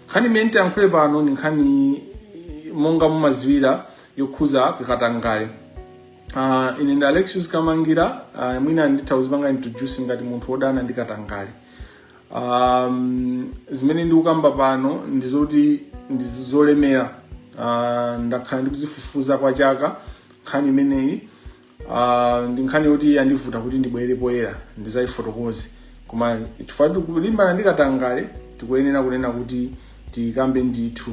nkhani imene nditayankhule pano ndi nkhani monga mumadziwira yokhuza katangale uh, ine ndi alexius kamangila uh, mwina nditha kuzipanga introduce ngati munthu wodana ndi katangale um, zimene ndikukamba pano ndi zoti ndi zolemera uh, ndakhala ndikuzifufuza kwa chaka nkhani imeneyi Ah, ndi nkhani yoti yandivuta kuti ndibwere poyera ndizayifotokoze koma chifukwa tikulimbana ndi katangale tikuyenera kunena kuti tiyikambe ndithu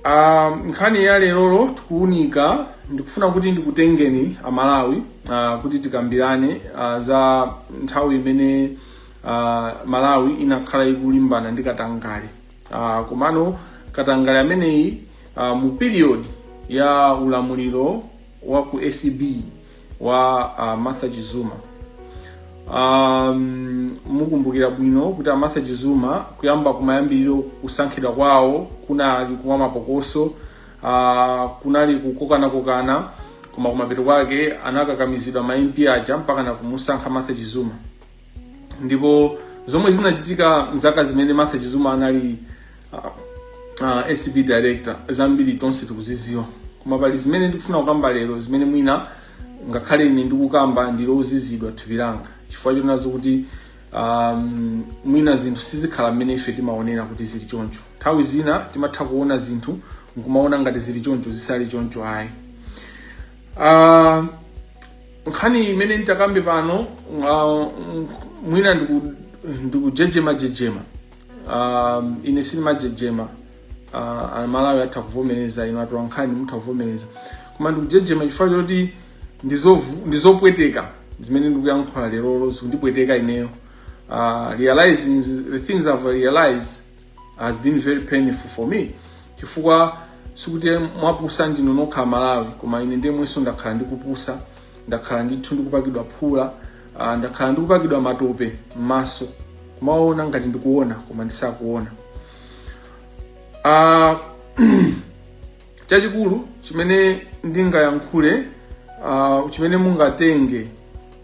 Ah, nkhani ya lerolo tikuunika ndikufuna kuti ndikutengeni amalawi ah, kuti tikambirane ah, za nthawi imene ah, malawi inakhala ikulimbana ndi katangale Uh, komano katangale ameneyi uh, mu period ya ulamuliro wa ku acb wa uh, martha chizuma um, mukumbukira bwino kuti amartha chizuma kuyamba kumayambiriro kusankhidwa kwawo kunali kwa mapokoso uh, kunali kukokanakokana koma kumapeto kwake anakakamizidwa ma mp aja mpaka na kumusankha martha chizuma ndipo zomwe zinachitika mzaka zimene Martha Chizuma anali uh, uh, ACB director zambiri tonse tikuziziwa koma pali zimene ndikufuna kukamba lero zimene mwina ngakhale ine ndikukamba ndili ozizidwa thupi langa chifukwa choona zokuti um, mwina zinthu sizikhala mmene ife timaonera kuti zili choncho nthawi zina timatha kuona zinthu nkumaona ngati zili choncho zisali choncho ayi uh, nkhani imene nditakambe pano uh, mwina ndiku- ndikujejema jejema um, ine sindimajejema uh, amalawi atha kuvomereza inu atola nkhani mutha kuvomereza koma ndikujejema chifukwa choti ndizovu- ndizopweteka zimene ndikuyankhula lerolo zikundipweteka ineyo uh, realizing the things i've realized has been very painful for me chifukwa sikuti mwapusa ndinu nokha malawi koma ine ndemwenso ndakhala ndikupusa ndakhala ndithu ndikupakidwa phula ah, ndakhala ndikupakidwa matope m'maso kumaona ngati ndikuona koma ndisakuona Ah, chachikulu chimene ndingayankhule uh, chimene mungatenge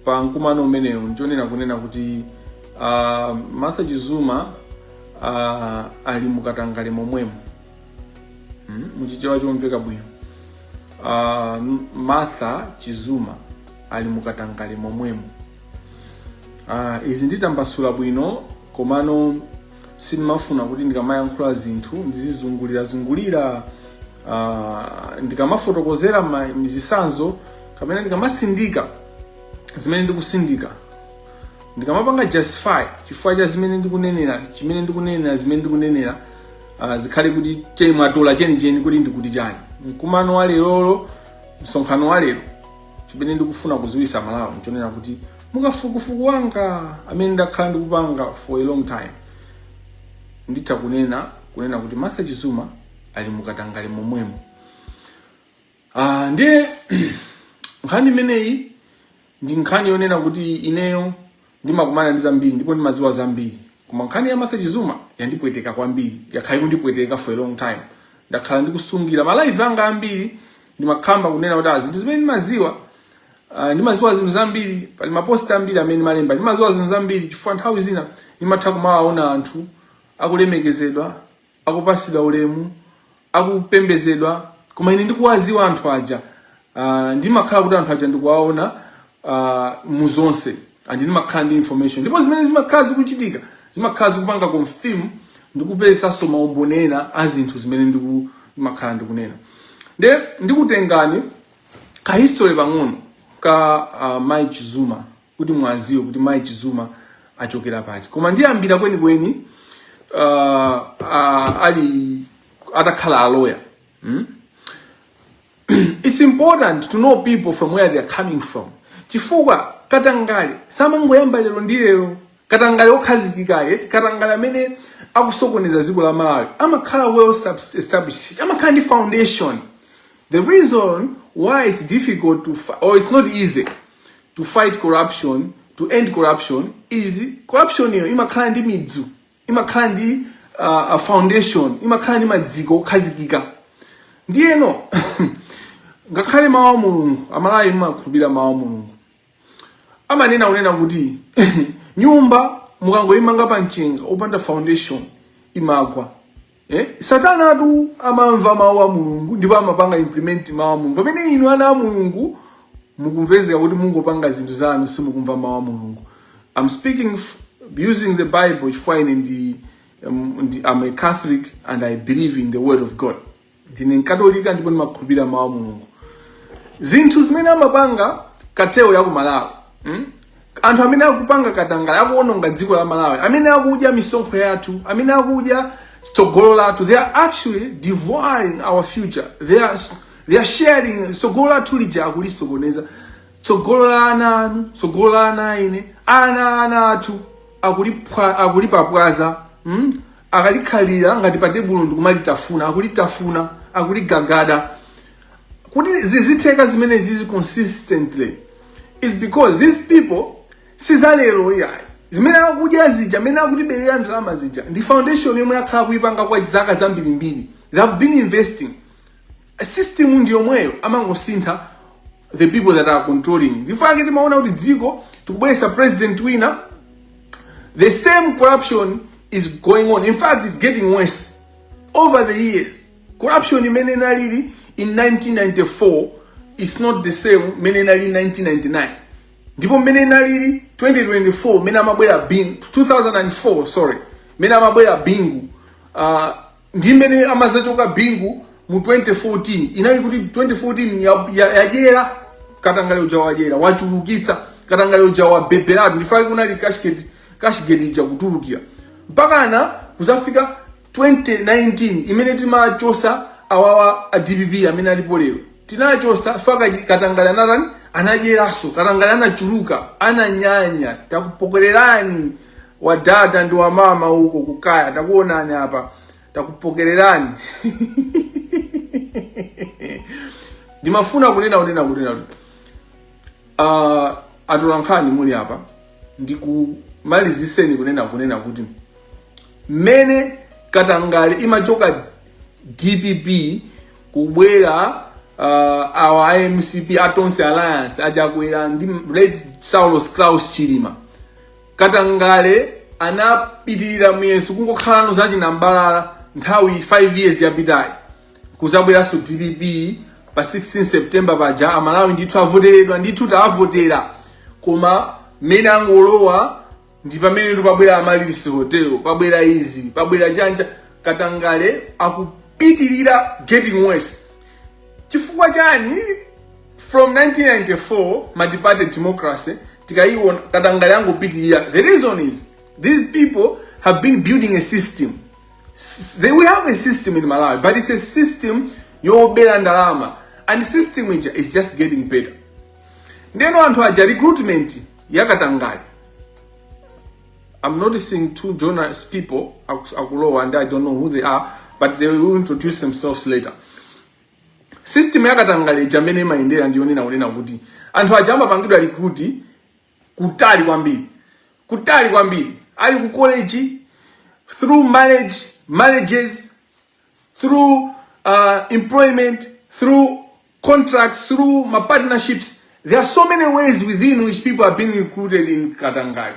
pa mkumano umenewu ndichonena kunena kuti uh, martha chizuma uh, ali mukatangale momwemo hmm? muchichewa chomveka bwino uh, martha chizuma ali mukatangale momwemo uh, izi nditambasula bwino komano sindimafuna kuti ndikamayankhula zinthu ndizizungulirazungulira uh, ndikamafotokozera mizisanzo kapena ndikamasindika zimene ndikusindika ndikamapanga justify chifukwa cha chimene ndikunenera chimene ndikunenera zimene ndikunenera uh, zikhale kuti cheni mwatola chenicheni kuti ndikuti chani mkumano wa lerolo msonkhano wa lero chimene ndikufuna kuziwisa malawi nchonena kuti mukafukufuku wanga amene ndakhala ndikupanga for a long time nditha kunena unena kuti martha chizuma ali mukatangale momwemo uh, ndiye nkhani imeneyi ndi nkhani yonena kuti ineyo Ndimakumana ndi zambiri ndipo ndimadziwa zambiri, koma nkhani ya Martha Chizuma yandipweteka kwambiri, yakhala ikundipweteka for a long time. Ndakhala ndikusungira ma live anga ambiri ndimakamba kunena kuti ah, zinthu zimene ndimadziwa Uh, ndimadziwa zinthu zambiri, pali mapost ambiri amene ndimalemba. Ndimadziwa zinthu zambiri chifukwa nthawi zina ndimatha kumawaona anthu akulemekezedwa akupasidwa ulemu akupembezedwa koma ine ndikuwaziwa anthu aja uh, ndimakhala kuti anthu aja ndikuwaona uh, mu zonse and ndimakhala ndi information ndipo zimene zimakhala zikuchitika zimakhala zikupanga confirm ndikupezaso maumboni ena a zinthu zimene ndimakhala ndikunena nde ndikutengani ka history pang'ono ka uh, Mai Chizuma kuti mwaziwe kuti mai chizuma achokera pati koma ndiyambira kwenikweni uh, uh, ali atakhala a lawyer hmm? it's important to know people from where they are coming from chifukwa katangale samangoyamba lero ndi lero katangale okhazikika eti katangale amene akusokoneza dziko la malawi amakhala well subs- established amakhala ndi foundation the reason why it's difficult to fi- or it's not easy to fight corruption to end corruption is corruption yo imakhala ndi midzu imakhala ndi uh, a foundation imakhala ndi madziko okhazikika ndiyeno ngakhale mawu a mulungu amalawi mumakhulupirira mawu a mulungu amanena unena kuti nyumba mukangoyimanga pa mchenga opanda foundation imagwa Eh? Satana atu amamva mawu a Mulungu ndipo amapanga implement mawu a Mulungu. Pamene inu ana a Mulungu mukupezeka kuti mungopanga zinthu zanu simukumva mawu a Mulungu. I'm speaking using the Bible chifukwa ine ndi um, I'm a Catholic and I believe in the word of God. Ndine mkatolika ndipo ndimakhulupirira mawu a Mulungu. Zinthu zimene amapanga cartel ya ku Malawi. Hmm? anthu amene akupanga katangale akuononga dziko la malawi amene akudya misonkho yathu amene akudya tsogolo lathu they are actually devouring our future they are, they are sharing tsogolo lathu lija akulisokoneza tsogolo la ana anu tsogolo la ana a ine ana ana athu akulipwa- akulipapwaza mm? akalikhalira ngati pa tebulo ndikumalitafuna akulitafuna akuligagada kuti zizitheka zimene zizi consistently is because these people sizalero iyayi zimene akudya zija amene akutiberera ndalama zija ndi foundation yomwe akhala kuipanga kwa zaka zambirimbiri they have been investing a system ndi yomweyo amangosintha the people that are controlling ndifake timaona kuti dziko tikubweresa president wina the same corruption is going on in fact it's getting worse over the years corruption imene inalili in 1994 is not the same imene inalili in 1999 ndipo mmene inalili 2024 mmene amabwera bingu 2004 sorry mmene amabwera bingu uh, ndi mmene amazachoka bingu mu 2014 inali kuti 2014 ya- ya- yajera katangale uja wajera wachulukisa katangale uja wabeberatu ndifake kunali cashgate cashgate ija kutulukira mpakana kuzafika 2019 imene timachosa awawa a dpp amene alipo lero tinachosa faka katangale anatani anajeraso katangale anachuluka ananyanya takupokererani wadada ndi wamama uko kukaya takuonani apa takupokererani ndimafuna kunena kunena kunena kuti uh, atolankhani muli apa ndikumaliziseni kunena kunena kuti mmene katangale imachoka dpp kubwera uh, awa a mcp a tonse alliance achakwera ndi late saulos klaus chilima katangale anapitirira muyeso kungokhalano za chinambalala nthawi 5 years yapitayi kuzabweranso dpp pa 16 september paja amalawi ndithu avoteredwa ndithu taavotera koma mmene angolowa ndi pamenetu pabwera amaryllis hotel pabwera izi pabwera chanja katangale akupitirira getting worse chifukwa chani from 1994 multiparty democracy tikayiona katangale angopitirira the reason is these people have been building a system S- they, we have a system in malawi but it's a system yobera ndalama and the system is just getting better ndeno anthu aja recruitment yakatangale I'm noticing two journalists people akulowa and I don't know who they are but they will introduce themselves later system yakatangale ija mmene imayendera ndi yonena kunena kuti anthu aja amapangidwa recruit kutali kwambiri kutali kwambiri ali ku college through marriage marriages through uh, employment, through contracts, through ma partnerships. There are so many ways within which people have been recruited in katangale.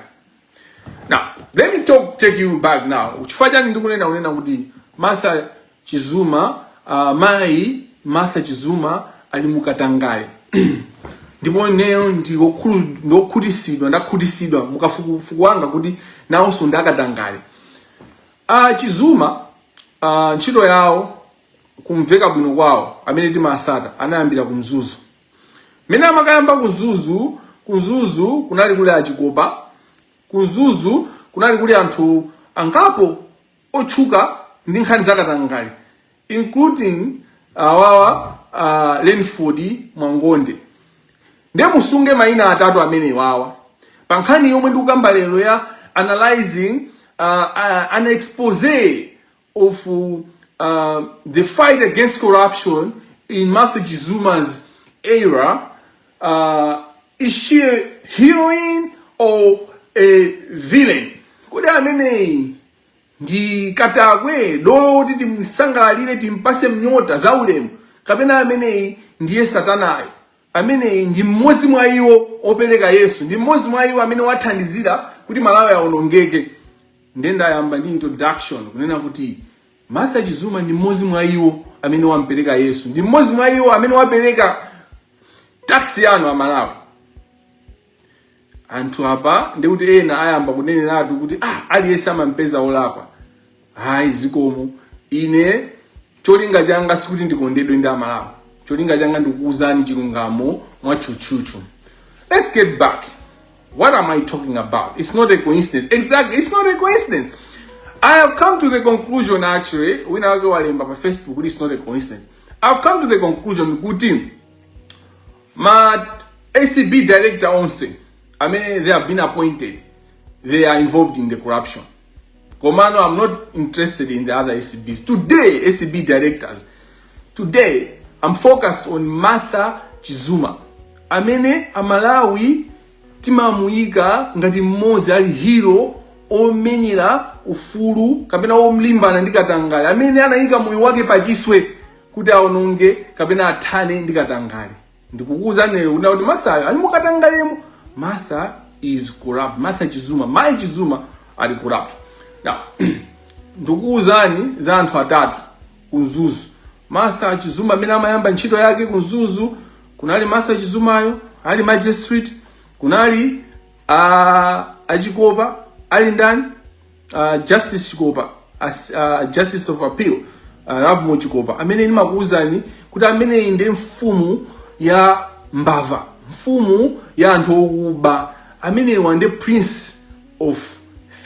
Now, let me talk, take you back now. Chifukwa chani ndikunena kunena kuti Martha Chizuma, uh, mai Martha Chizuma ali mu katangale. ndipo ineyo ndokhutitsidwa ndakhutitsidwa mukafukufuku wanga kuti nawonso ndi akatangale A Chizuma uh, ntchito yawo kumveka bwino kwawo amene timatsata anayambira ku Mzuzu. Mmene amakayamba ku Mzuzu, ku Mzuzu kunali kuli a Chikopa, ku Mzuzu kunali kuli anthu angapo otchuka ndi nkhani zakatangale. including awawa uh, lenford mwangonde nde musunge maina atatu amenewawa pa nkhani yomwe ndikukamba lero ya analyzing uh, uh, an expose of uh, the fight against corruption in Martha Chizuma's era uh, is she a heroine or a villain kodi ameneyi ndi katakwe dolo woti timsangalalire timpase nyota za ulemu kapena ameneyi ndiye satanayo ameneyi ndi mmodzi mwa iwo opereka yesu ndi mmodzi mwa iwo amene wathandizira kuti malawi awonongeke ndiye ndayamba ndi introduction kunena kuti martha chizuma ndi mmodzi mwa iwo amene wampereka yesu ndi mmodzi mwa iwo amene wapereka tax yanu amalawi anthu apa ndikuti ena ayamba kuneneratu kuti ah, aliyense amampeza olakwa ayi zikomo ine cholinga changa sikuti ndikondedwe ndi amalawi cholinga changa ndikukuuzani chilungamo mwatchutchutchu let's get back what am i talking about it's not a coincidence exactly it's not a coincidence i have come to the conclusion actually wina wake walemba pa facebook kuti it's not a coincidence i've come to the conclusion kuti ma acb director onse amene they have been appointed they are involved in the corruption komano i'm not interested in the other acbs today acb directors today i'm focused on martha chizuma amene amalawi timamuyika ngati mmodzi ali hero omenyera ufulu kapena olimbana ndi katangale amene anayika moyo wake pachiswe kuti aononge kapena athane ndi katangale ndikukuwuzani lero kunena kuti marthayo ali mukatangalemo martha is corrupt martha chizuma mayi chizuma ali corrupt now ndikukuwuzani za anthu atatu ku mzuzu martha chizuma amene amayamba ntchito yake ku mzuzu kunali martha chizumayo ali magistrate kunali uh, a chikopa ali ndani uh, justice chikopa as, uh, justice of appeal uh, lovemore chikopa amene ndimakuwuzani kuti ameneyi ndi mfumu ya mbala mfumu ya anthu okuba ameneyu ndi prince of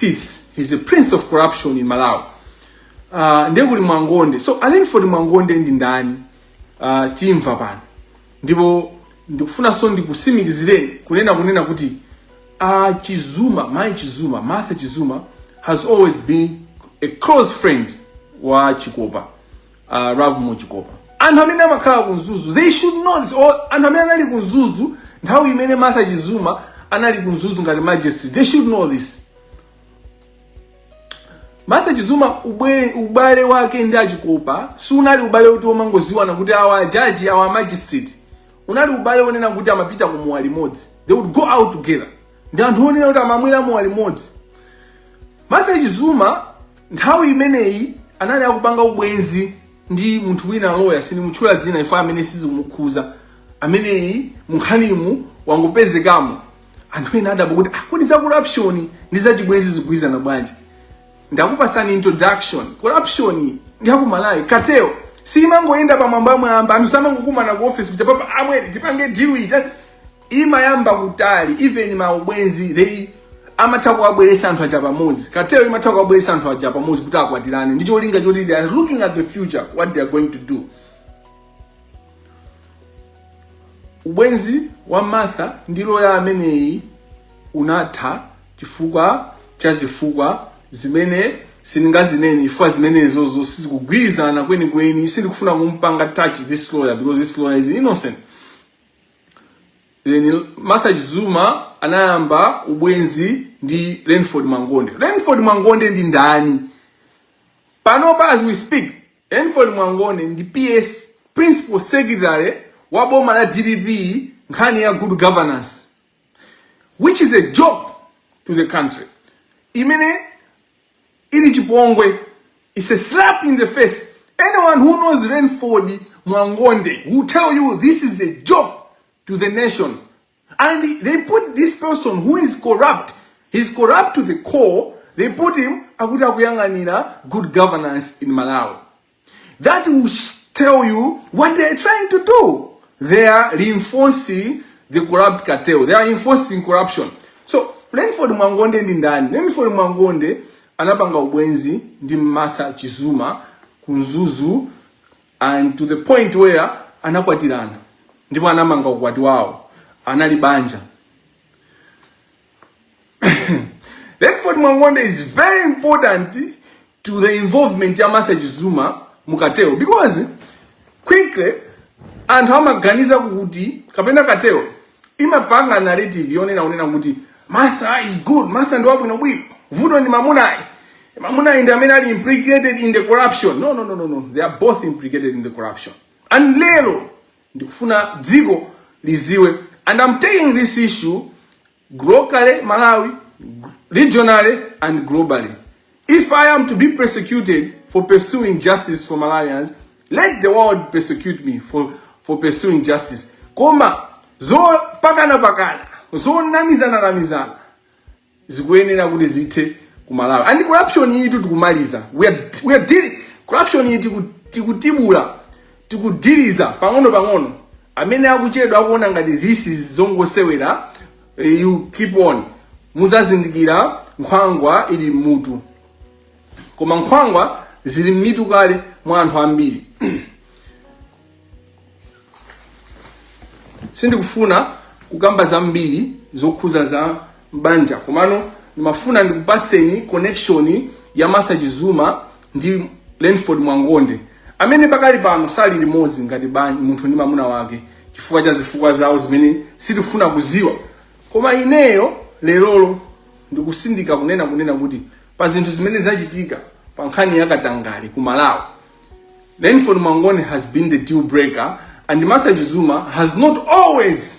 thieves he's a prince of corruption in malawi uh, ndiye kuli mwangonde so a renford mwangonde ndi ndani uh, timva pano Ndipo ndikufunanso ndikusimikizireni kunena kunena kuti a Chizuma, Mai Chizuma, Martha Chizuma has always been a close friend wa Chikopa, uh, Lovemore Chikopa. Anthu amene amakhala ku Mzuzu, they should know this. Or anthu amene anali ku Mzuzu nthawi imene Martha Chizuma anali ku Mzuzu ngati magistrate, they should know this. Martha Chizuma ubwe, ubale wake ndi a Chikopa siunali ubale woti omangoziwana kuti awa a judge awa a magistrate unali ubale onena kuti amapita ku mowa limodzi they would go out together ndi anthu onena kuti amamwera mowa limodzi Martha Chizuma nthawi imeneyi anali akupanga ubwenzi ndi munthu wina loya sinimutchula dzina chifukwa ameneyu sizimukhuza ameneyi munkhanimu wangopezekamo anthu ena adabwa kuti ah, kodi za corruption ndi za chibwenzi zigwirizana bwanji ndakupasani introduction corruption ya ku malawi cartel simangoyenda pamwambamwamba anthu samangokumana ku office kuti papa amwene tipange deal iyi tati- imayamba kutali even maubwenzi they amatha kuwabweresa anthu aja pamodzi cartel imatha kuwabweresa anthu aja pamodzi kuti akwatirane ndi cholinga choti they are looking at the future what they are going to do ubwenzi wa martha ndi loya ameneyi unatha chifukwa cha zifukwa zimene sindingazinene chifukwa zimenezozo sizikugwirizana kwenikweni sindikufuna kumpanga touch this lawyer because this lawyer is innocent then martha chizuma anayamba ubwenzi ndi renford mwangonde renford mwangonde ndi ndani panopa as we speak Eniford Mwangone ndi PS, Principal Secretary, wa boma la dpp nkhani ya good governance which is a joke to the country imene ili chipongwe it's a slap in the face anyone who knows Rainford Mwangonde will tell you this is a joke to the nation And they put this person who is corrupt, he's corrupt to the core, they put him akuti akuyang'anira good governance in Malawi. That will tell you what they're trying to do. They are reinforcing the corrupt cartel. They are enforcing corruption. So, Renford Mwangonde ndi ndani? Renford Mwangonde anapanga ubwenzi ndi Martha Chizuma ku Mzuzu and to the point where anakwatirana ndipo anamanga ukwati wawo anali banja Lenford Mwangonde is very important to the involvement ya Martha Chizuma mukateo because quickly anthu amaganiza kuti kapena kateo imapanga narrative yonena unena kuti Martha is good, Martha ndi wabwino bwino. Vuto ndi mamunayi. Mamunayi ndi amene ali implicated in the corruption. No, no, no, no, no. They are both implicated in the corruption. And lero ndikufuna dziko liziwe. And I'm taking this issue locally Malawi, regionally and globally. If I am to be persecuted for pursuing justice for Malawians, let the world persecute me for, for pursuing justice. Koma, zopakanapakana, zonamizananamizana, zikuyenera kuti zithe ku Malawi. And corruption iyitu tikumaliza. We are, we are dealing, corruption iyi tikutibula, tikudiliza, pang'ono pang'ono. Amene akuchedwa akuona ngati this is zongosewera, you keep on muzazindikira nkhwangwa ili mmutu koma nkhwangwa zili mmitu kale mwa anthu ambiri sindikufuna kukamba zambiri zokhuza za mbanja komano ndimafuna ndikupaseni connection ya martha chizuma ndi Lenford Mwangonde amene pakali pano sali limodzi ngati banja munthu ndi mamuna wake chifukwa cha zifukwa zawo zimene sitikufuna kuziwa koma ineyo lerolo ndikutsindika kunena kunena kuti pa zinthu zimene zachitika pa nkhani ya katangale ku malawi Lenford Mwangonde has been the deal breaker and Martha Chizuma has not always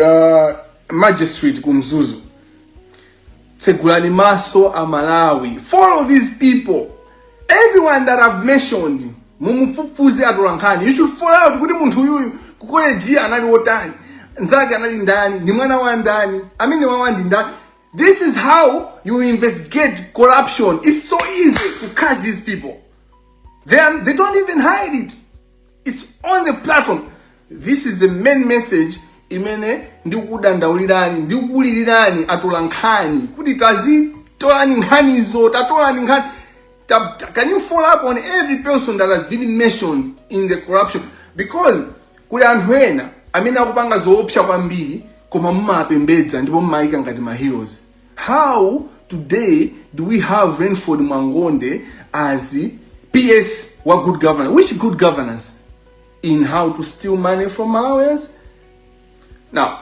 uh, magistrate ku mzuzu tsegulani maso a malawi follow these people everyone that i've mentioned mumufufuze atolankhani you should follow up kuti munthu uyuyu ku college anali wotani nzake anali ndani ndi mwana wa ndani amenewawa ndi ndani this is how you investigate corruption it's so easy to catch these people they, are, they don't even hide it It's on the platform. This is the main message imene ndikudandaulirani ndikukulilirani atolankhani kuti tazitolani nkhanizo tatolani nkhani ta, ta, can you follow up on every person that has been mentioned in the corruption because kuli anthu ena amene akupanga zoopsa kwambiri koma mumapembedza ndipo mumayika ngati ma heroes How today do we have Rainford Mwangonde as the PS wa good governance? Which good governance? In how to steal money from Malawians? Now,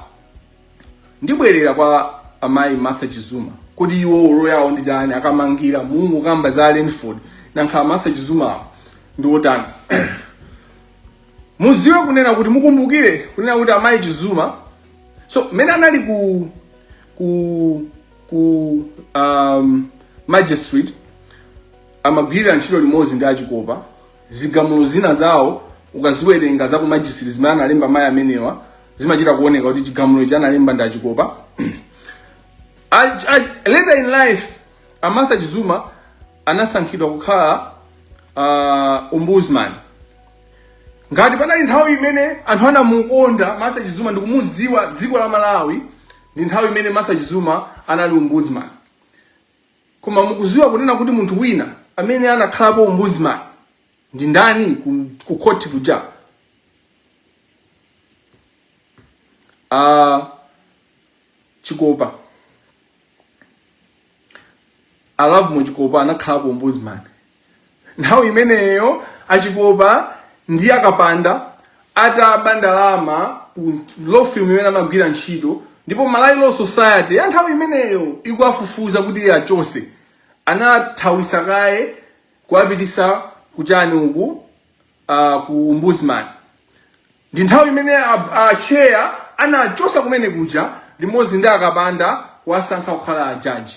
ndibwerera kwa amayi Martha Chizuma kodi iwo role yawo ndi chani akamangira munkukamba za Rainford nankha Martha Chizuma awo ndi otani muziwe kunena kuti mukumbukire kunena kuti amayi Chizuma so mmene anali ku ku ku um, magistrate amagwirira ntchito limodzi ndi achikopa zigamulo zina zawo ukaziwerenga za ku magistrate zimene analemba mayi amenewa zimachita kuoneka kuti chigamulo ichi analemba ndi achikopa A- a- later in life a martha chizuma anasankhidwa kukhala uh, ombudsman ngati panali nthawi imene anthu anamukonda martha chizuma ndikumuziwa dziko la malawi ndi nthawi imene martha chizuma anali ombudsman koma mukuziwa kunena kuti munthu wina amene anakhalapo ombudsman ndi ndani ku, ku court kuja uh, chikopa a lovemore chikopa anakhalapo ombudsman nthawi imeneyo achikopa ndi akapanda ataba ndalama ku law firm imene amagwira ntchito ndipo malawi law society ya nthawi imeneyo ikuwafufuza kuti achose anathawisa kaye kuwapitisa kuchani uku uh, ku ombudsman Ndi nthawi imene a, a chair anachosa kumene kuja limodzi ndi akapanda kuwasankha kukhala a judge.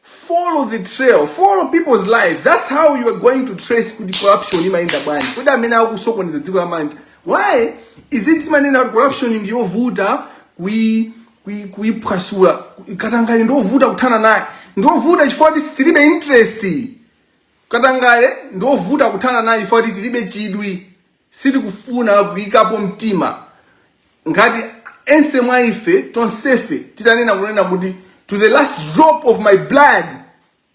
Follow the trail, follow people's lives. That's how you are going to trace kuti corruption imayenda bwanji. Kodi amene akusokoneza dziko la Malawi. Why is it timanena kuti corruption ndi yovuta kui kui kuiphwasula. Katangale ndi ovuta kuthana naye. Ndi ovuta chifukwa tilibe interest. Katangale ndi ovuta kuthana naye chifukwa kuti tilibe chidwi, sitikufuna kuyikapo mtima. Ngati ense mwa ife, tonsefe titanena kunena kuti to the last drop of my blood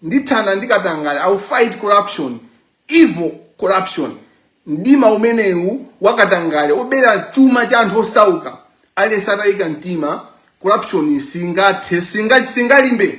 ndithana ndi katangale, I will fight corruption, evil corruption. Mdima umenewu wa katangale obera chuma cha anthu osauka, aliyense atayika mtima, corruption singathe, singa singalimbe.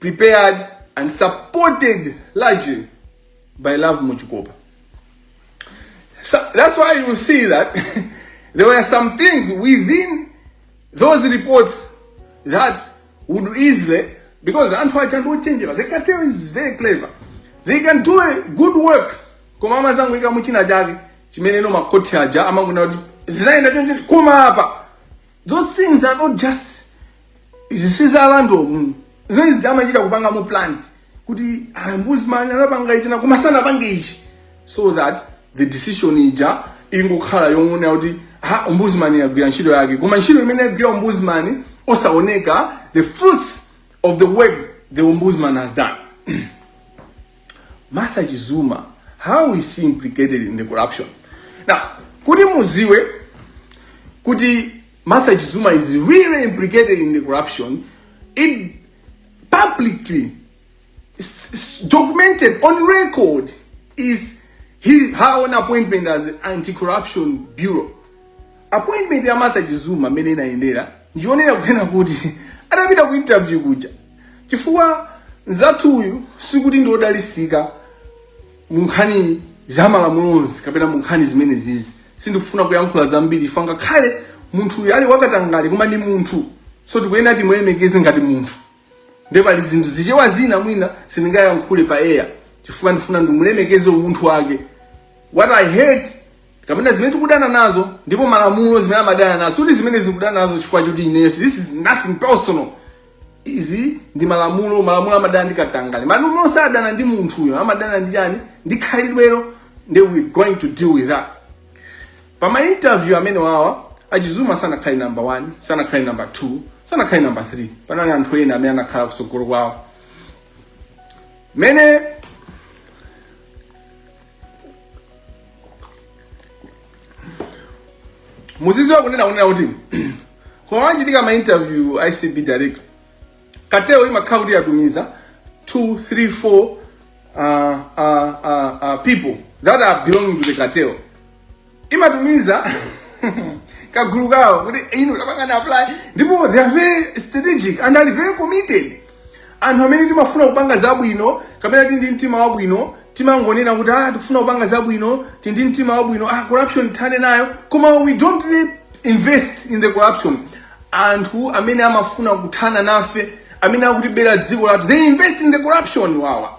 prepared and supported largely by Love Muchikopa. So that's why you see that there were some things within those reports that would easily, because Anthu Aja no change, the cartel is very clever. They can do a good work. Koma amazangoika muchina chake chimene no makoti aja amangona kuti zinaenda choncho koma apa. Those things are not just izi si za random zinazi amachita kupanga ku plan kuti a ombudsman anapanga ichi koma sanapange ichi so that the decision ija ingokhala yongoona kuti ombudsman yagwira ntchito yake koma ntchito imene yagwira ombudsman osaoneka the fruits of the work the ombudsman has done martha chizuma how is she implicated in the corruption now kuti muziwe kuti Martha Chizuma is really implicated in the corruption. It publicly it's, it's documented on record is his, her own appointment as anti-corruption bureau. Appointment ya Martha Chizuma mene inaendera ndionera kunena kuti adapita ku interview kuja chifukwa nzathu uyu sikuti ndi odalilika mu nkhani za malamulo onse kapena mu nkhani zimene zizi sindikufuna kuyankhula zambiri chifukwa ngakhale munthuyu ali wakatangale koma ndi munthu so tikuyenera timulemekeze ngati munthu nde pali zinthu zichewa zina mwina sindingayankhule pa air chifukwa ndifuna ndimulemekeze umunthu wake what i hate kapena zimene tikudana nazo ndipo malamulo zimene amadana nazo osati zimene ndikudana nazo chifukwa choti ineso this is nothing personal izi ndi malamulo malamulo amadana ndi katangale malamulo sadana ndi munthuyo amadana ndi chani ndi khalidwelo and we're going to deal with that pa ma interview amene wawa a Chizuma sanakhale number 1 sanakhale number 2 sanakhale number 3 panali anthu ena amene anakhala kusogolo kwawo mene muzidziwa kunena kunena kuti koma wanji ndikama interview icb direct kateo imakhala kuti yatumiza 2 3 4 uh, uh, uh, uh, people that are belonging to the cartel imatumiza kagulu kawo kuti inu kapangeni apply ndipo they are very strategic and are very committed anthu amene timafuna kupanga zabwino kapena tili ndi mtima wabwino timangonena kuti ah tikufuna kupanga zabwino tili ndi mtima wabwino ah corruption tithane nayo koma we don't really invest in the corruption anthu amene amafuna kuthana nafe amene akutibera dziko lathu they invest in the corruption wawa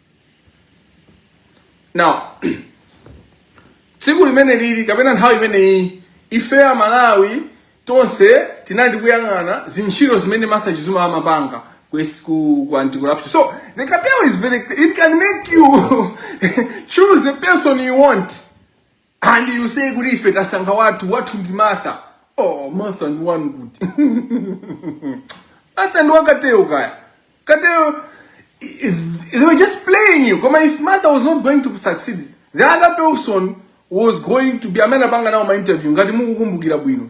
now tsiku limene lija kapena nthawi imeneyi ife a malawi tonse tinali tikuyang'ana zintchito zimene martha chizuma amapanga ku S- ku ku anti corruption so the cartel is very it can make you choose the person you want and you say kuti ife tasankha wathu wathu ndi martha oh martha ndi wanu koma martha ndi wa cartel kaya cartel they were just playing you koma if martha was not going to succeed the other person was going to be amene anapanga nawo ma interview ngati mukukumbukira bwino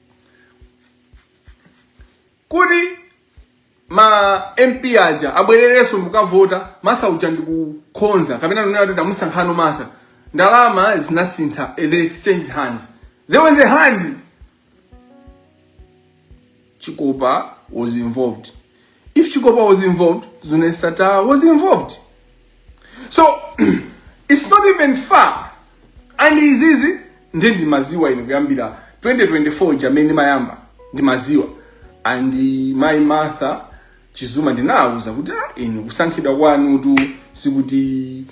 kuti ma mp aja abwererenso nkukavota martha uja ndikukonza kapena kunena kuti tamusankhano martha ndalama zinasintha eh, they exchanged hands there was a hand chikopa was involved If Chikopa was involved, Zuneth Sattar was involved. So, it's not even far. And it's easy. Ndiye ndimadziwa ine kuyambira 2024 chamene imayamba ndimadziwa. And uh, mayi Martha Chizuma ndinawauza kuti ah inu kusankhidwa kwanutu sikuti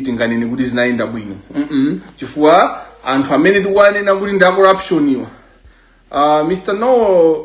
tinganene kuti zinayenda bwino. Mm -mm. Chifukwa anthu amene tikuwanena kuti ndi a corruption awa. Uh, Mr. Noel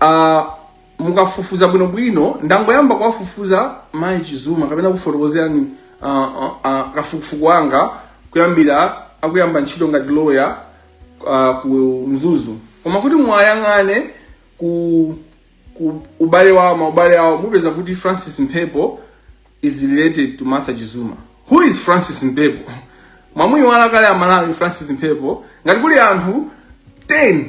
uh, mukafufuza bwinobwino ndangoyamba kuwafufuza mayi chizuma kapena kufotokozerani uh, uh, uh, kafukufuku wanga kuyambira akuyamba ntchito ngati loya uh, ku mzuzu koma kuti muwayang'ane ku, ku ubale wawo maubale awo mupeza kuti francis mphepo is related to martha chizuma who is francis mphepo mwamuiwala kale amalawi francis mphepo ngati kuli anthu 10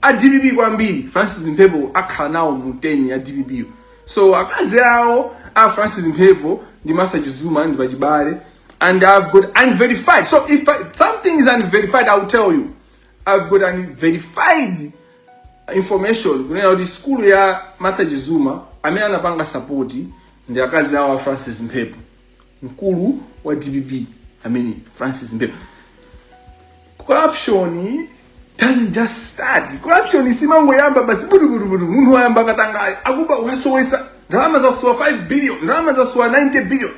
a dpp kwambiri francis mphepo akhala nawo mu 10 ya dpp yo. so akazi awo a francis mphepo ndi martha chizuma ndi pachibale and i've got unverified so if I, something is unverified i'll tell you i've got unverified information kunena kuti sukulu ya martha chizuma amene anapanga sapoti ndi akazi awo a francis mphepo mkulu wa dpp amene francis mphepo corruption doesn't just start corruption simangoyamba basi butubutubutu munthu wayamba katangale akuba wasowesa ndalama zasowa 5 billion ndalama zasowa 90 billion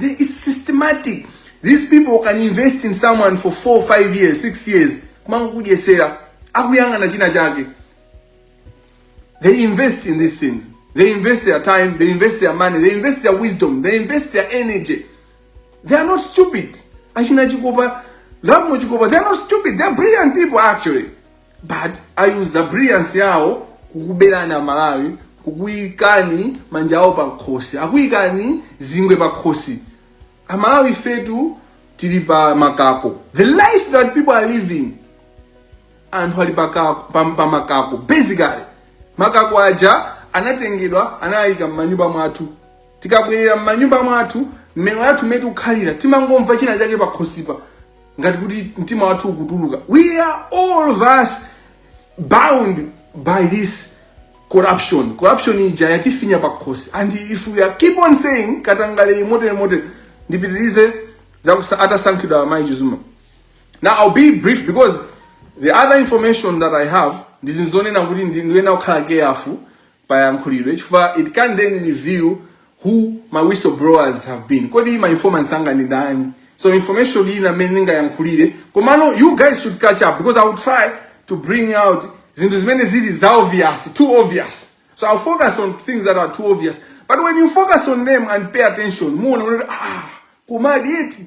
They- it's systematic these people can invest in someone for 4 5 years 6 years kumangokudyetsera akuyang'ana china chake They invest in these things. They invest their time, they invest their money, they invest their wisdom, they invest their energy. They are not stupid. Achina Chikopa, Lamo Chikopa, they are not stupid. They are brilliant people actually. But I use the brilliance yao kukubelana Malawi, kukuikani manja ao pa nkhosi, akuikani zingwe pa nkhosi. Amalawi fetu tili pa makako. The life that people are living anthu ali pa- pam- pamakako basically makako aja anatengedwa anayika m'manyumba mwathu tikabwerera m'manyumba mwathu mmene wathu mmene tikukhalira timangomva china chake pakhosipa ngati kuti mtima wathu ukutuluka we are all of us bound by this corruption corruption ija yatifinya pakhosi and if we keep on saying katangale motere motere ndipitirize za kusa atasankhidwa amayi chizuma Now I'll be brief because the other information that I have ndizizonena kuti ndiyenera kukhala careful payankhulidwe chifukwa it can then reveal who my whistleblowers have been kodi ma informants anga ndi ndani so information ina imene ndingayankhulire komano you guys should catch up because i will try to bring out zinthu zimene zili za obvious too obvious so i'll focus on things that are too obvious but when you focus on them and pay attention muona kuti ah komadi eti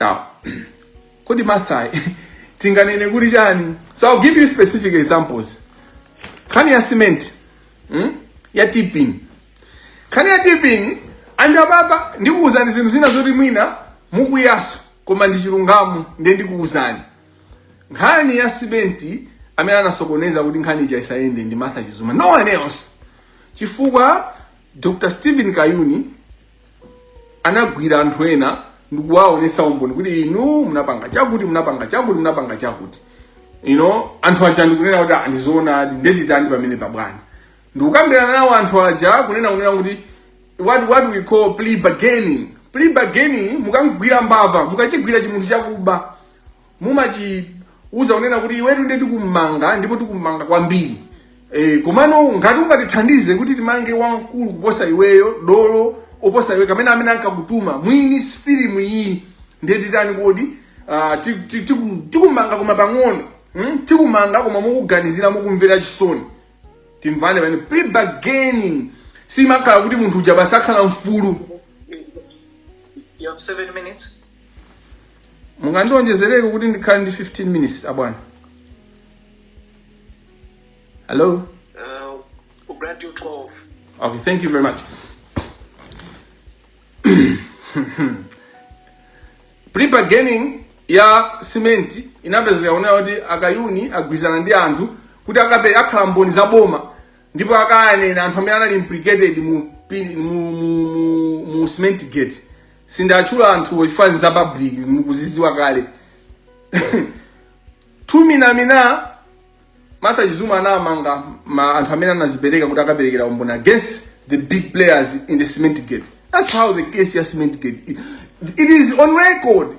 Now, kodi Martha tinganene kuti chani? So I'll give you specific examples. Nkhani ya cement, hmm? ya TPIN. Nkhani ya TPIN and apapa ndikuwuzani zinthu zina zoti mwina mukwiyaso koma ndi chilungamo ndiye ndikuwuzani. Nkhani ya cement amene anasokoneza kuti nkhani ija isayende ndi Martha Chizuma. No one else. Chifukwa Dr. Stephen Kayuni anagwira anthu ena ndikuwaonesa umboni kuti inu munapanga chakuti munapanga chakuti munapanga chakuti you know anthu aja ndikunena kuti "Ah, ndizoonadi ndetitani pamene pabwana ndikukambirana nawo anthu aja kunena kunena kuti what, what we call plea bargaining plea bargaining mukam'gwira mbava mukachigwira chimunthu chakuba mumachiuza kunena kuti iwetu ndiye tikumanga ndipo tikumanga kwambiri e, komano ngati ungatithandize kuti timange wamkulu kuposa iweyo dolo oposa iwe kamene amene ankakutuma mwini filimu iyi ndiye titani kodi ah, ti- ti- tiku- tikumanga koma pang'ono hmm? tikumanga koma mukuganizira mukumvera chisoni timvane pamene plea bargaining simakhala kuti munthu uja basi akhala mfulu You have seven minutes. mungandionjezereko kuti ndikhale ndi 15 minutes abwana hello uh, we'll grant you 12 okay thank you very much plea bargaining ya simenti inapezeka kunena kuti a Kayuni agwirizana ndi anthu kuti akape akhala mboni za boma ndipo akayanena anthu amene anali implicated mu, pin- mu, mu, mu, mu cement gate Sindatchula anthuwo chifukwa nza public mukuziziwa kale. Tumina mina Martha Chizuma anamanga anthu amene anazipereka kuti akaperekera umboni against the big players in the cement gate. That's how the case ya cement gate. It, it is on record.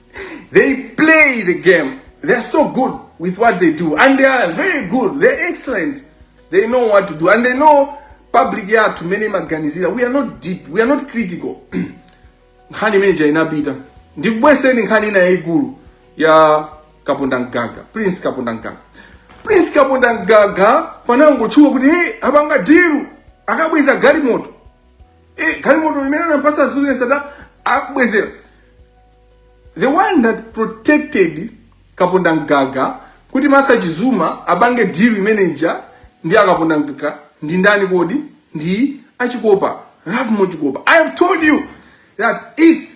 They play the game. They are so good with what they do. And they are very good. They are excellent. They know what to do. And they know public yathu mmene imaganizira. We are not deep. We are not critical. nkhani imeneja inapita ndikubweseni nkhani ina yayikulu ya Kapondamgaga Prince Kapondamgaga Prince Kapondamgaga panangotchuka kuti hey apanga diru akabweza galimoto Eh, galimoto imene anampasa Zuneth Sattar akubwezera. The one that protected Kapondamgaga kuti Martha Chizuma apange deal imene ija ndi a Kapondamgaga ndi ndani kodi ndi a Chikopa Lovemore Chikopa I have told you that if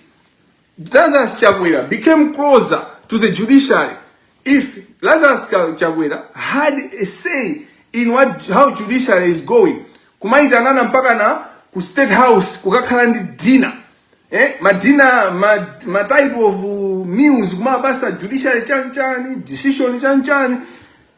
Lazarus Chakwera became closer to the judiciary if Lazarus Chakwera had a say in what how judiciary is going kumayitanana mpaka na ku state house kukakhala ndi dinner eh madina ma, ma type of uh, meals kumabasa judiciary chanchani decision chanchani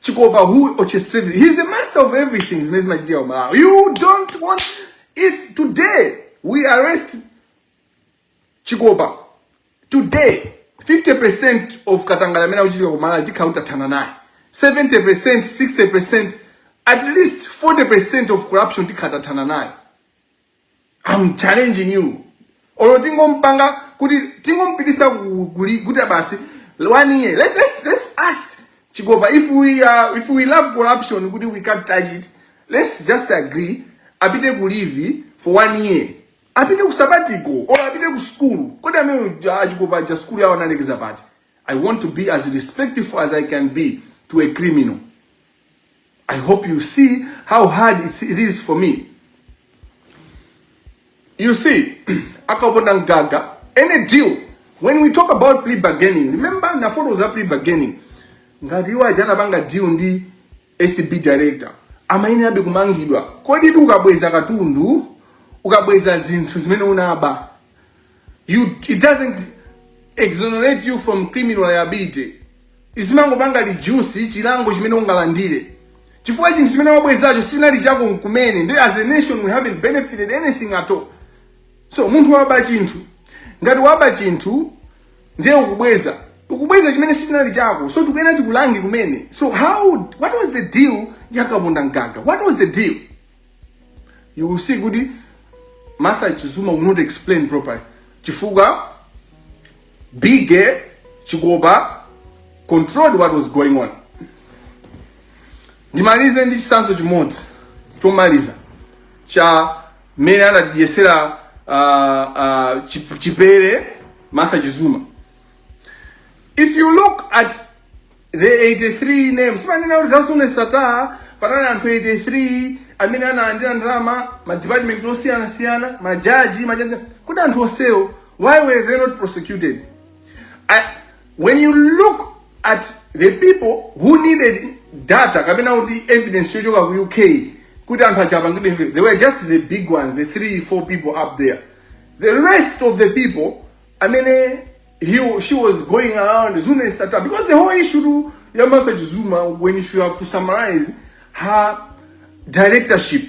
chikopa who orchestrated he's the master of everything zimene zimachitika ku malawi you don't want if today we arrest chikopa today 50% of katangale amene ukuchitika ku malawi tikhala titathana naye 70% 60% at least 40% of corruption tikhala titathana naye I'm challenging you olo tingompanga kuti tingompitisa ku- kuli- kuti basi one year let's, let's, let's ask chigopa if we, uh, if we love corruption kuti we can't touch it let's just agree apite ku leave for one year apite ku sabatiko olo apite ku skulu kodi amene achigopa ja skulu yawo analekeza pati i want to be as respectful as i can be to a criminal I hope you see how hard it's, it is for me. You see, akabona gaga, any deal. When we talk about plea bargaining, remember Naforo was a plea bargaining. Ngati iwo ajana banga deal ndi ACB director. Amaine abe kumangidwa. Kodi tu ukabweza katundu, ukabweza zinthu zimene unaba. you it doesn't exonerate you from criminal liability izimangopanga reduce chilango chimene ungalandire chifukwa chinthu chimene wabwezacho sinali chako nkumene and as a nation we haven't benefited anything at all so munthu waba chinthu ngati waba chinthu ndiye ukubweza ukubweza chimene sinali chako so tikuyenera tikulange kumene so how what was the deal yakabunda mgaga what was the deal you will see kuti martha chizuma will not explain properly chifukwa bige chikopa controlled what was going on ndimalize ndi chisanzo chimodzi chomaliza cha mmene anatidyetsera uh, uh, chip- chipere martha chizuma if you look at The 83 names zimanena kuti za Zuneth Sattar panali anthu 83 amene analandira ndalama ma department osiyana siyana ma judge judge kuti anthu onsewo why were they not prosecuted I, when you look at the people who needed data kapena kuti evidence yochoka ku UK kuti anthu aja apangidwe imve they were just the big ones the three four people up there the rest of the people amene he or she was going around Zuma and Sata because the whole issue to Yamatha Zuma, when if you have to summarize her directorship,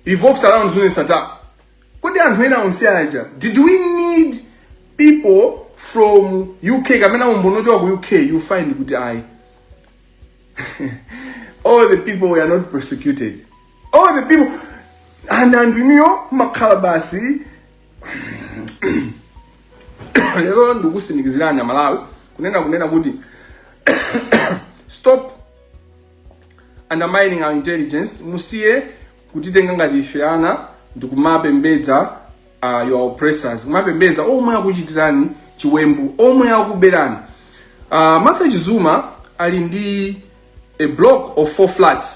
revolves around Zuma and Sata. Kodi anthu ena onse aja, did we need people from UK kapena umbono choka ku UK you find kuti ayi all the people were not persecuted all the people and and you know makhala basi lero ndikutsimikizirani amalawi kunena kunena kuti stop undermining our intelligence musiye kutitenga ngati ife ana ndikumapembedza uh, your oppressors kumapembedza omwe akuchitirani chiwembu omwe akuberani uh, martha chizuma ali ndi a block of four flats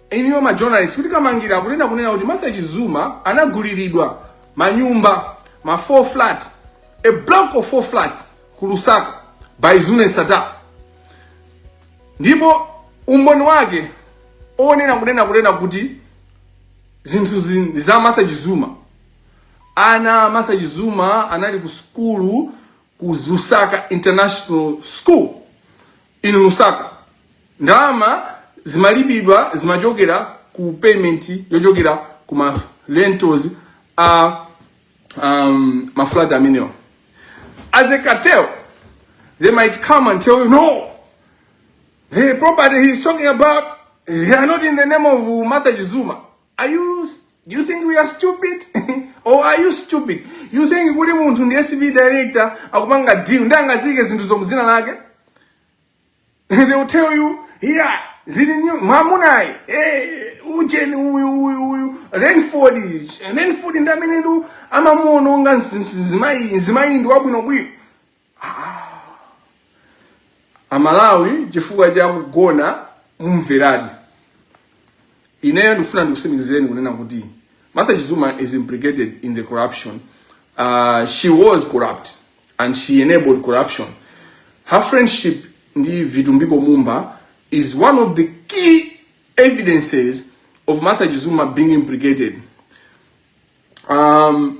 inuyo ma journalist kuti kamangira akutenga kunena kuti martha chizuma anaguliridwa manyumba ma 4 flat a block of 4 flats ku lusaka by zuneth sattar ndipo umboni wake onena kunena kunena kuti zinthu zi- za martha chizuma ana a martha chizuma anali ku sukulu ku lusaka international school In Lusaka, ndalama zimalipiridwa zimachokera ku payment yochokera ku ma rentals a um, ma flat amenewa. As a cartel, they might come and tell you no. The property he's talking about, they are not in the name of Martha Chizuma. Are you you think we are stupid? or are you stupid? You think kuti munthu ndi ACB director akupanga deal ndi angazike Zuneth Sattar? They will tell you, yeah, issue ndi mamunayi eh ujeni uyu uyu uyu Renford Renford ndamene amamuononga nzimayi nzimayi ndi wabwino bwino. Ah, Amalawi chifukwa cha kugona mumveradi. Ineyo ndikufuna ndikutsimikizireni kunena kuti Martha Chizuma is implicated in the corruption. Uh, she was corrupt and she enabled corruption. Her friendship ndi Vitumbiko Mumba is one of the key evidences of Martha Chizuma being implicated. um,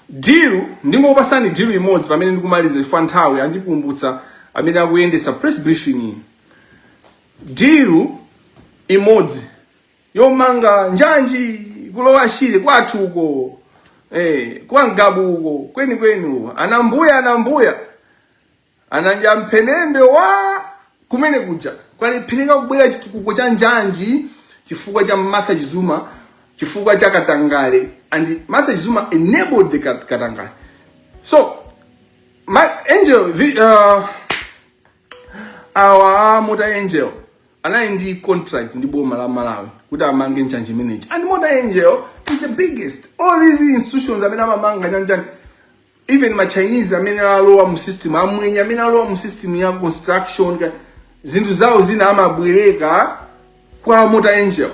dilu ndingopasani dilu imodzi pamene ndikumaliza chifukwa nthawi andikumbutsa amene akuyendesa press briefing iyi dilu imodzi yomanga njanji kulowa shire kwathu uko eh, kwa mgabu uko kweni kweni uko anambuya anambuya Ana Njamphenembe wa kumene kuja kwalephereka kubwera chitukuko cha njanji chifukwa cha Martha Chizuma chifukwa cha katangale and Martha Chizuma enabled the katangale so Mota-Engil the, uh, awa Mota-Engil anali ndi contract ndi boma la Malawi kuti amange njanji imeneyi and Mota-Engil is the biggest oldest institution amene amamanga njanji even ma chinese amene alowa mu system amwenye amene alowa mu system ya construction ka- zinthu zawo zina amabwereka kwa Mota-Engil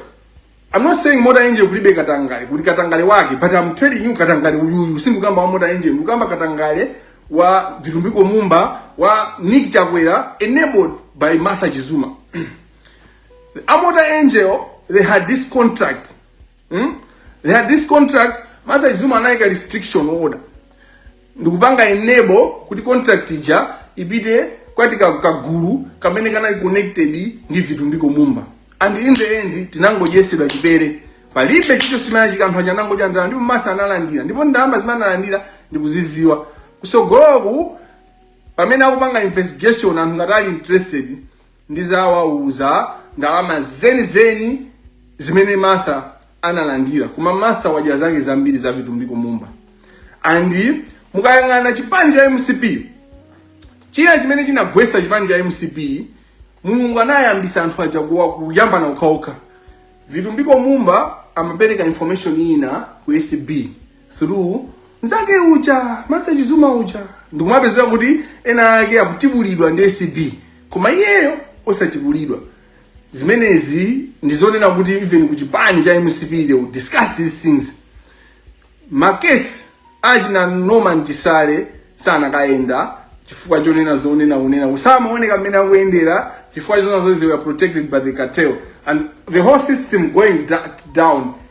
i'm not saying Mota-Engil kulibe katangale kuli katangale wake but i'm telling you katangale uyuyu sindikukamba wa Mota-Engil ndikukamba katangale wa vitumbiko mumba wa nick chakwera enabled by martha chizuma a Mota-Engil they had this contract Hmm? They had this contract, Martha Chizuma anayika restriction order. Ndikupanga enable kuti contract ija ipite kwa kagulu kamene kanali connected ndi vitumbiko mumba. And in the end tinangonyetsedwa chipere. Palibe chilichonse chimene chinachitika anangodya ndalama ndipo Martha analandira. Ndipo ndalama zimene analandira ndikuzidziwa. Kutsogoloku pamene akupanga investigation anthu ngati ali interested ndidzawauza ndalama zenizeni zimene martha analandira koma martha wadya zake zambiri za vitumbiko mumba and mukayang'ana chipani cha mcp china chimene chinagwetsa chipani cha mcp mulungu anayambitsa anthu aja kuwa- kuyambana okhaokha vitumbiko mumba amapereka information ina ku acb through nzake uja Martha Chizuma uja ndikumapezeka kuti ena ake akutibulidwa ndi ACB koma iyeyo osatibulidwa zimenezi ndizonena kuti even ku chipani cha mcp they will discuss these things makesi achina norman chisale sanakayenda chifukwa chonena zonena kunena usamaoneka mmene akuyendera chifukwa chonena zoti they were protected by the cartel and the whole system going down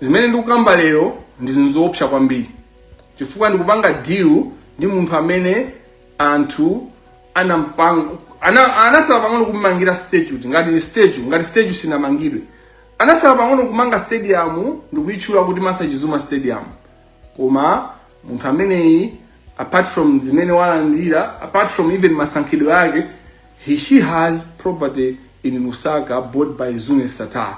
zimene ndikukamba lero ndi zinthu zoopsa kwambiri chifukwa ndikupanga deal ndi munthu amene anthu anampanga ana, anasala pang'ono kumangira statue ngati statue ngati statue sinamangidwe anasala pang'ono kumanga stadium ndikuyitchula kuti Martha Chizuma stadium koma munthu ameneyi apart from zimene walandira apart from even masankhidwe ake he, she has property in Lusaka bought by Zuneth Sattar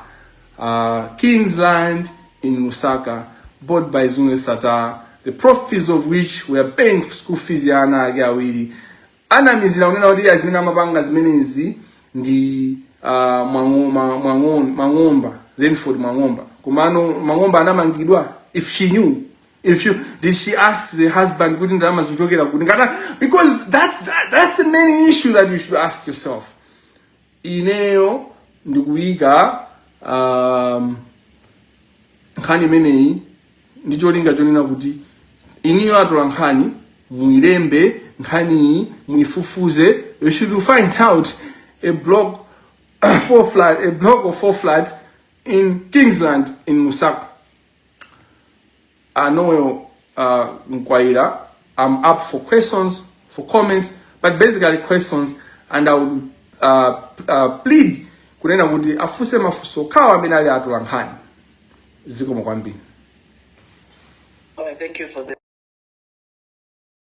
Uh, Kingsland in Lusaka, bought by Zuneth Sattar, the profits of which were paying school fees ya ana ake awiri. Anamizira kunena kuti a zimene amapanga zimenezi ndi uh, Mwang'oma- Mwang'on- Mwang'omba, Renford Mwang'omba. Komano Mwang'omba anamangidwa if she knew. If you did she ask the husband kuti ndalama zikuchokera kuti ngata because that's that, that's the main issue that you should ask yourself. ineyo ndikuyika um, nkhani imeneyi ndi cholinga chonena kuti inuyo atolankhani muilembe nkhaniyi muifufuze you should find out a block four flat a block of four flats in kingsland in lusaka uh, Noel uh, Mkwaira. I'm up for questions, for comments, but basically questions, and I would uh, uh, plead kunena kuti afunse mafunso akhale amene ali atolankhani zikomo kwambiri. Oh, thank you for the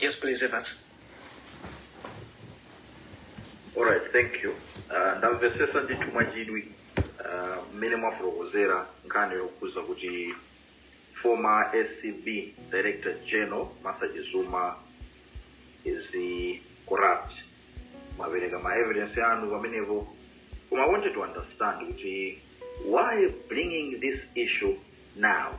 Yes, please, Evans. All right, thank you. Uh, ndamvetsetsa ndithu mwachidwi uh, mmene mwafotokozera nkhani yokhudza kuti former acb director general martha chizuma is corrupt mwapereka ma evidence anu pamenepo koma i wanted to understand kuti why bringing this issue now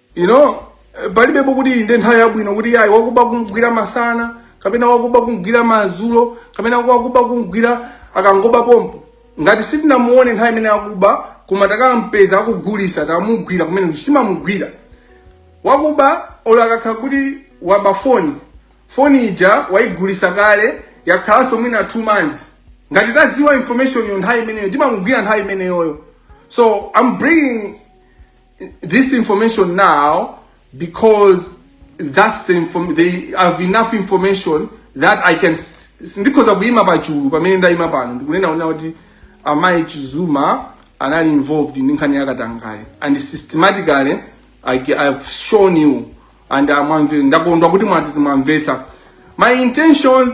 you know eh, palibepo kuti inde nthawi yabwino kuti ayi wakuba kumgwira masana kapena wakuba kumgwira madzulo kapena wakuba kumgwira akangoba pompo ngati sitinamuone nthawi imene akuba koma takampeza akugulitsa tamugwira kumene timamugwira wakuba olo akakhala kuti waba foni foni ija waigulitsa kale yakhalanso mwina two months ngati tadziwa information yo nthawi imeneyo timamugwira nthawi imeneyoyo so i'm bringing this information now because that's the inform I have enough information that I can s- s- ndikhoza kuima pachulu pamene ndaima pano ndikunena kunena kuti amayi chizuma anali involved ndi nkhani yakatangale and systematically I, ge- I've shown you and amwamve ndakondwa kuti mwati mwamvetsa my intentions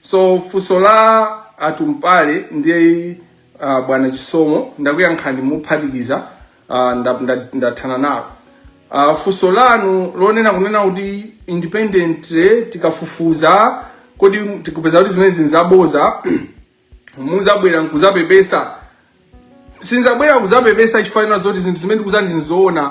So funso la atumpale ndiye uh, bwana Chisomo ndakuyankhani mophatikiza uh, nda- nda- ndathana nalo uh, funso lanu lonena kunena kuti independent eh, tikafufuza kodi tikupeza kuti zimene zinzaboza muzabwera nkuzapepesa sinzabwera kuzapepesa chifukwa chonena zoti zinthu zimene ndikukuuzani ndinzoona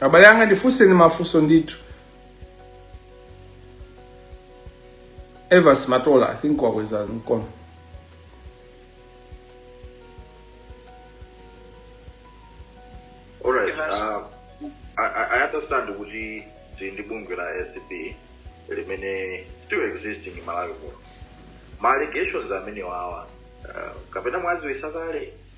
abale anga ndifunseni mafunso ndithu Evans Matola i think wakweza mkono Alright, Evans. uh, I, I I understand kuti tili ndi bungwe la acb limene still existing in malawi muno ma allegations amenewawa uh, kapena mwaziwisa kale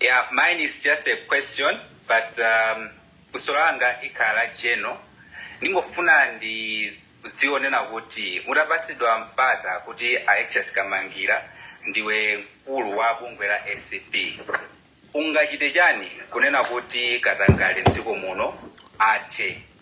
Yeah, mine is just a question, but um, funso langa likhala la general. Ndingofuna ndi kudziwa kunena kuti mutapatsidwa mpata kuti Alexious Kamangila ndiwe mkulu wa bungwe la ACB ungachite chani kunena kuti katangale mdziko muno athe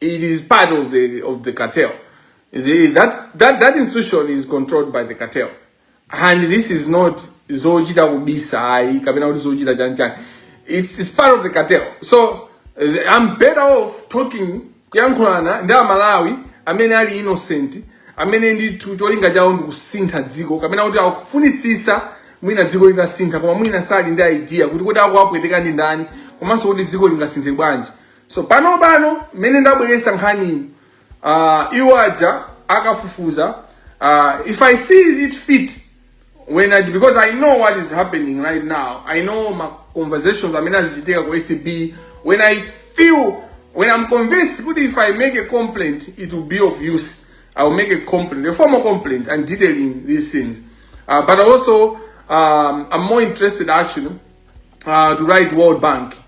It is part of the of the cartel. The, that that that institution is controlled by the cartel, and this is not zochita kubisa ayi kapena kuti zochita chani chani. It's it's part of the cartel. So uh, I'm better off talking kuyankhulana ndi amalawi amene ali innocent amene ndithu cholinga chawo ndi kusintha dziko kapena kuti akufunitsisa mwina dziko litasintha koma mwina sali ndi idea kuti kodi akuwapweteka ndi ndani komanso kuti dziko lingasinthe bwanji so pano pano mmene ndabweresa nkhaniyi uh, iwo aja akafufuza uh, if i see it fit when I, because i know what is happening right now i know ma conversations amene azichitika ku acb when i feel when i'm convinced kuti if i make a complaint it will be of use i will make a complaint a formal complaint and detailing these things uh, but also um, i'm more interested actually uh, to write world bank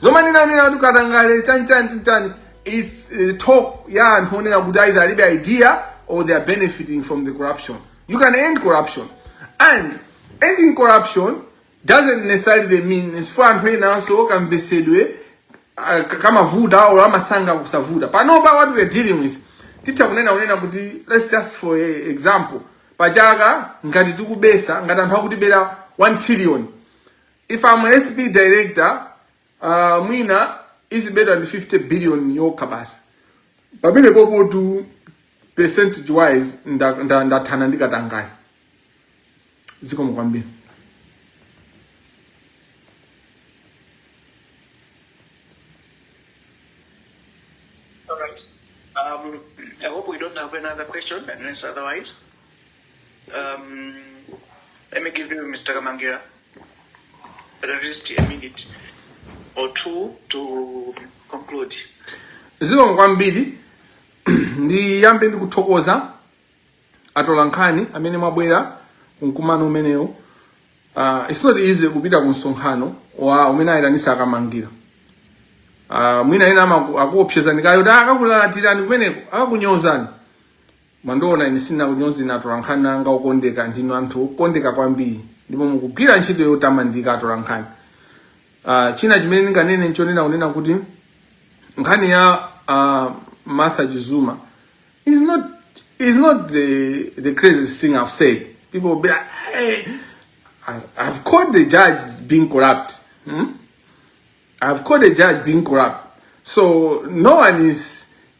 zomwe ndinanena kuti katangale chanchani chanchani is uh, talk ya anthu onena kuti either alibe idea or they are benefiting from the corruption you can end corruption and ending corruption doesn't necessarily mean chifukwa anthu enanso kamvesedwe ah, ka- kamavuta awo amasankha kusavuta panopa what we are dealing with titha kunena kunena kuti let's just for example pachaka ngati tikubedwa ngati anthu akutibera 1 trillion If I'm a SP director, uh, mwina is better than 50 billion yokha basi. Pamene popo tu percentage wise ndathana nda, nda, nda ndi katangayi. Zikomo kwambiri. All right. Um, I hope we don't have another question, unless otherwise. Um, let me give you, Mr. Kamangila, at least a minute or two to conclude. zikomo kwambiri ndiyambe ndikuthokoza atolankhani amene mwabwera kumkumano umenewu uh, it's not easy kupita ku msonkhano wa umene ayitanisa a Kamangila uh, mwina ena amaku- akuopsezani kaya kuti akakulalatirani kumeneko akakunyozani Mundiona ine sindikunyoza atolankhani anga okondeka, ndinu anthu okondeka kwambiri ndipo mukugwira ntchito yotamandika atolankhani. Uh, china chimene ndinganene nchonena kunena kuti nkhani ya uh, Martha Chizuma is not is not the the craziest thing I've said. People will be like, hey, I've, I've caught the judge being corrupt. Hmm? I've caught the judge being corrupt. So no one is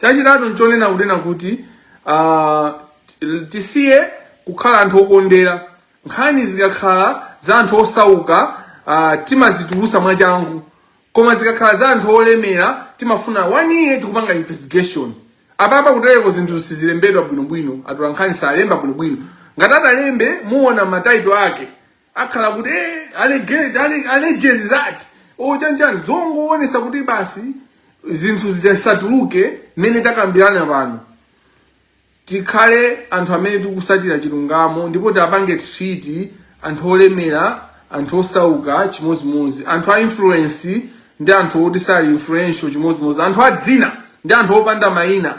Chachitatu nchonena kunena kuti uh, tisiye kukhala anthu okondera. Nkhani zikakhala za anthu osauka uh, timazitulusa mwachangu, koma zikakhala za anthu olemera timafuna one year tikupanga investigation. Apapa kutereko zinthu sizilembedwa bwinobwino, atolankhani salemba bwinobwino. Ngati atalembe muona ma title ake akhala kuti eh, alleged ale- alleges that chanichani zongoonesa kuti basi zinthu zisatuluke mmene takambirana pano tikhale anthu amene tikusatira chilungamo ndipo tiwapange treat anthu olemera anthu osauka chimodzimodzi anthu a influence ndi anthu oti sali influential chimodzimodzi anthu a dzina ndi anthu opanda mayina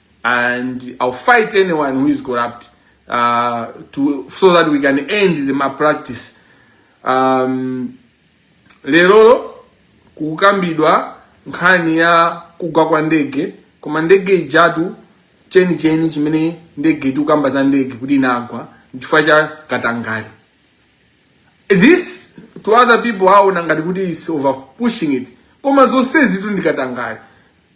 and I'll fight anyone who is corrupt uh, to, so that we can end the malpractice. Um, lero kukukambidwa nkhani ya kugwa kwa ndege koma ndege ijatu chenicheni chimene ndege tikukamba za ndege kuti inagwa chifukwa cha katangale this to other people aona ngati kuti is over pushing it koma zonsezitu ndi katangale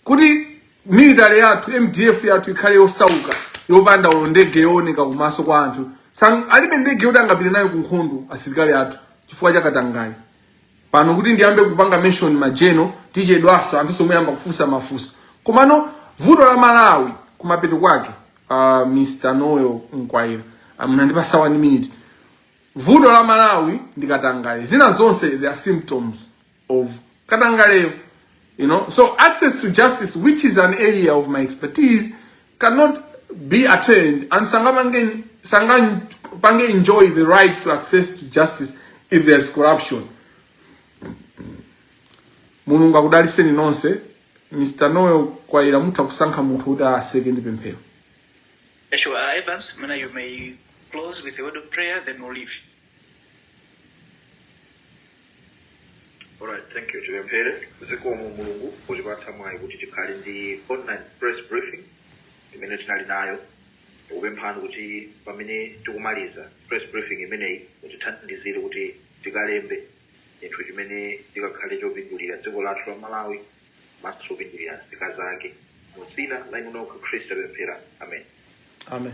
kuti military yathu mdf yathu ikhale yosauka yopanda olo ndege yooneka kumaso kwa anthu Sang, alibe ndege yoti angapite nayo ku nkhondo asilikali athu chifukwa cha katangale pano kuti ndiyambe kupanga mention ma general tichedwaso anthunso muyamba kufunsa mafunso komano vuto la malawi kumapeto kwake uh, mr noel mkwaila munandipasa one minute vuto la malawi ndi katangale zina zonse they are symptoms of Katangale, you know. So access to justice, which is an area of my expertise, cannot be attained and Sangamangen Sangan Pange enjoy the right to access to justice if there's corruption. Mulungu akudaliseni nonse Mr. Noel kwaira mutha kusankha munthu kuti aseke ndi pemphero. Sure, uh, Evans, Mana, you may close with a word of prayer, then we'll leave. Alright, thank you tipemphere zikomo mulungu potipatsa mwayi kuti tikhale ndi online press briefing imene tinali nayo tikupemphani kuti pamene tikumaliza press briefing imeneyi mutithandizire kuti tikalembe chinthu chimene chikakhale chopindulira dziko lathu la malawi komanso chopindulira nzika zake mu dzina la inu nokha khristu tapemphera amen amen